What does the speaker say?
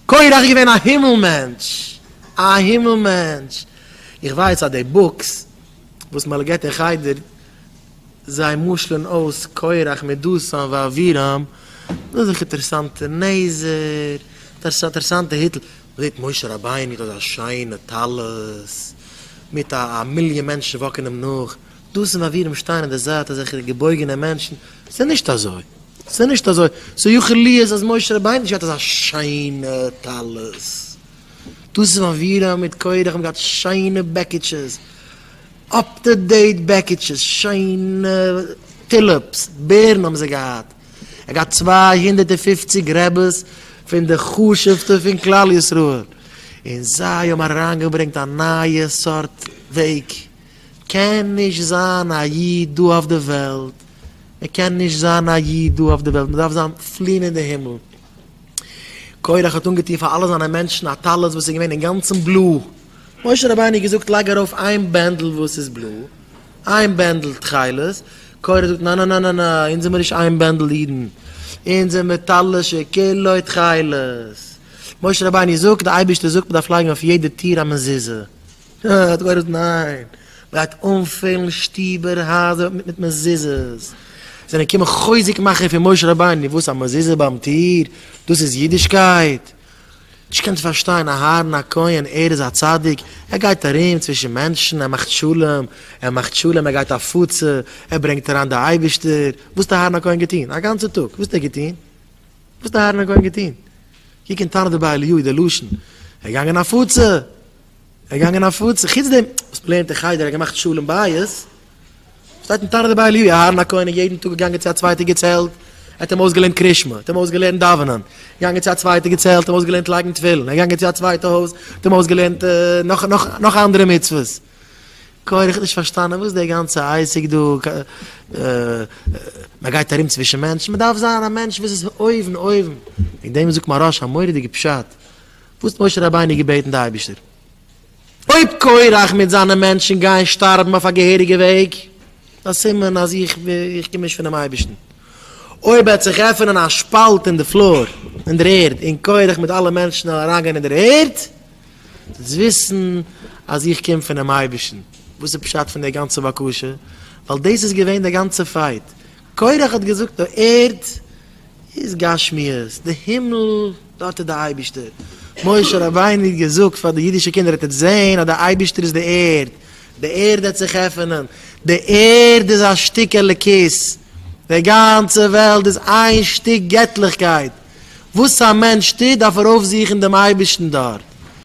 קורח איז געווען א הימל מענטש! א הימל מענטש! איך ווייס אז די בוקס וואס מען געט אין חדר, זיי משל'ן אויס קורח מיט דתן ואבירם, דאס איז דאך אינטערעסאנטע נעזער, אינטערעסאנטע היטל, מען זעט משה רבינו מיט אזא שיינע טלית, מיט א א מיליאן מענטשן וואקן אים נאך, דתן ואבירם שטייען אין די זייט אזעלכע געבויגענע מענטשן, ס'איז נישט אזוי. ס'איז נישט אזוי, ס'איז יכול להיות אז משה רבינו האט נישט געהאט אזא שיינע טלית, דאס איז אווירא מיט קרח, האבן געהאט שיינע בעקיטשעס, אפ טו דעיט בעקיטשעס, שיינע טילעפס, בערן האבן זיי געהאט, ער האט געהאט צוויי הונדערט און פופציג רעבעס פון די חשוב'טע פון כלל ישראל, און זיי האבן אריינגעברענגט א נייע סארט וועג. קען נישט זיין א איד דא אויף די וועלט, מען קען נישט זיין א איד דא אויף די וועלט, מען דארף זיין פלין אין די הימל. קורח האט אנגעטון פאר אלע זיינע מענטשן א טלית וואס איז געווען אינגאנצן בלוי, משה רבינו האט געזאגט לייג ארויף איין בענדל וואס איז בלוי, איין בענדל תכלת, קורח זאגט נא נא נא נא נא, אונז זעמיר נישט איין בענדל אידן, אונז זעמיר טלית שכולו תכלת, משה רבינו זאגט די אייבערשטער זאגט מען דארף לייגן אויף יעדע טיר א מזוזה, אה, דו גלויבסט? ניין! מ'גייט אנפילן שטיבער, הייזער, מיט מזוזות! זענען געקומען חוזק מאכער פון משה רבינו, וואס? א מזוזה ביים טיר? דאס איז אידישקייט? נישט געקענט פארשטיין, אהרן הכהן, ער איז א צדיק? ער גייט ארום צווישן מענטשן, ער מאכט שלום, ער מאכט שלום, ער גייט הפצה, ער ברענגט אריין די אייבערשטער, וואס האט אהרן הכהן געטון? א גאנצע טאג, וואס האט ער געטון? וואס האט אהרן הכהן געטון? קוק אין תנא דבי אליהו, די לשון, ער איז געגאנגען הפצה! ער געגאנגען הפצה, חוץ דעם וואס מען לערנט אין חדר ער האט געמאכט שלום בית, שטייט אין תניא דבי אליהו אהרן הכהן איז יעדן טאג געגאנגען צו א צווייטע געצעלט, ער האט אים אויסגעלערנט קרישמע, ער האט אים אויסגעלערנט דאווענען, געגאנגען צו א צווייטע געצעלט, ער האט אים אויסגעלערנט לייגן תפילין, ער געגאנגען צו א צווייטע הויז, ער האט אים אויסגעלערנט נאך נאך נאך אנדערע מצוות. כהן איך האב נישט פארשטאנען וואס דער גאנצע עסק דא, מען גייט ארום צווישן מענטשן, מען דארף זיין א מענטש וואס איז אויבן אויבן, וועגן דעם זאגט מהרש א מורא'דיגע פשט, וואס האט משה רבינו געבעטן די אייבישטער? אויב קורח מיט זיינע מענטשן גייען שטארבן אויף א געהעריגע וועג, איז א סימן אז איך קום נישט פונעם אייבישטן. אויב וועט זיך עפענען א שפאלט אין די פלאר, אין דער ערד, און קורח מיט אלע מענטשן וועלן אריינגיין אין דער ערד, זאלסט וויסן אז איך קום פונעם אייבישטן. וואס איז פשט פון דער גאנצער בקשה? ווייל דאס איז געווען דער גאנצער פייט. קורח האט געזאגט די ערד. איז גשמיות, די הימל, דארט איז די אייבישטער, משה רבינו האט געזאגט פאר די אידישע קינדער, אט איז זעהן אז די אייבישטער איז די ערד, די ערד העט זיך עפענען, די ערד איז א שטיק אלוקית, די גאנצע וועלט איז איין שטיק געטליכקייט, וואס א מענטש טוט דארף ער אויפזוכן דעם אייבישטן דארט.